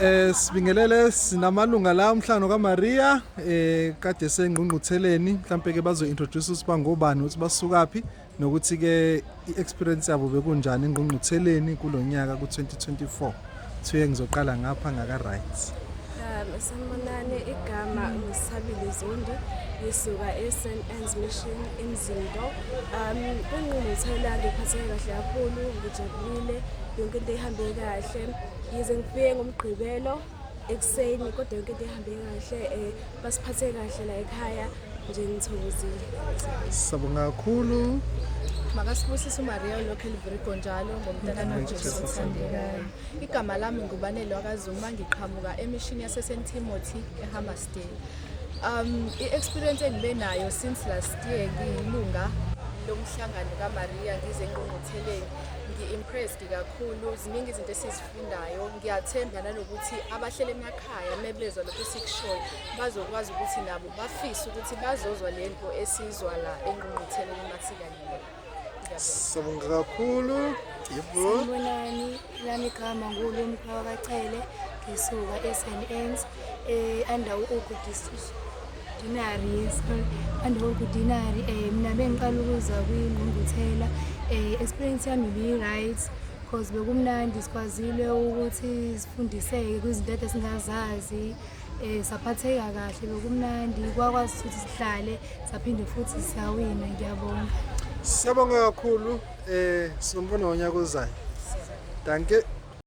Eh sibingelele sinamalunga la umhlangano kaMaria eh kade sengqungqutheleni mhlambe ke bazo introduce usiba ngobani ukuthi basukaphi nokuthi ke iexperience yabo bekunjani engqungqutheleni kulonyaka ku2024 thiye ngizoqala ngapha ngaka rights um sanibonani igama ngisabile zondi ngisuka e-st ans mission emzindo um Um, kwingqungquthela ngiphatheke kahle kakhulu ngijabulile yonke into ihambe kahle yize ngifike ngomgqibelo ekuseni kodwa yonke into ihambe kahle um basiphathe kahle la ekhaya nje ngithokozile sabonga kakhulu makasibusise umaria olokhu elivirigo njalo ngomntanami ujesu othandekayo igama lami ngubanelwa kazuma ngiqhamuka emishini yasesentimothy ehamas Wednesday. Um, i-experience engibe nayo since last year ngiyilunga lomhlangano kaMaria ngize engqungqutheleni ngi-impressed kakhulu ziningi izinto esizifundayo ngiyathemba nanokuthi abahlele emakhaya mebezwa lokhu sikushoyo bazokwazi ukuthi nabo bafise ukuthi bazozwa lento esizwa la engqungqutheleni masikanyela Siyabonga kakhulu. Yebo. Sanibonani, lami igama ngulo Mkhawa kaCele, ngisuka eSNNs, eh under uGugu District. Dinari, yes, under uGugu Dinari, eh mina bengiqala ukuza kwingqungquthela, eh experience yami bi-right because bekumnandi sikwazile ukuthi sifundiseke kwizinto ade singazazi. Eh saphatheka kahle lokumnandi kwakwazi ukuthi sihlale saphinde futhi siyawina ngiyabonga. Siyabonga kakhulu eh sombona wonyaka ozayo. Danke.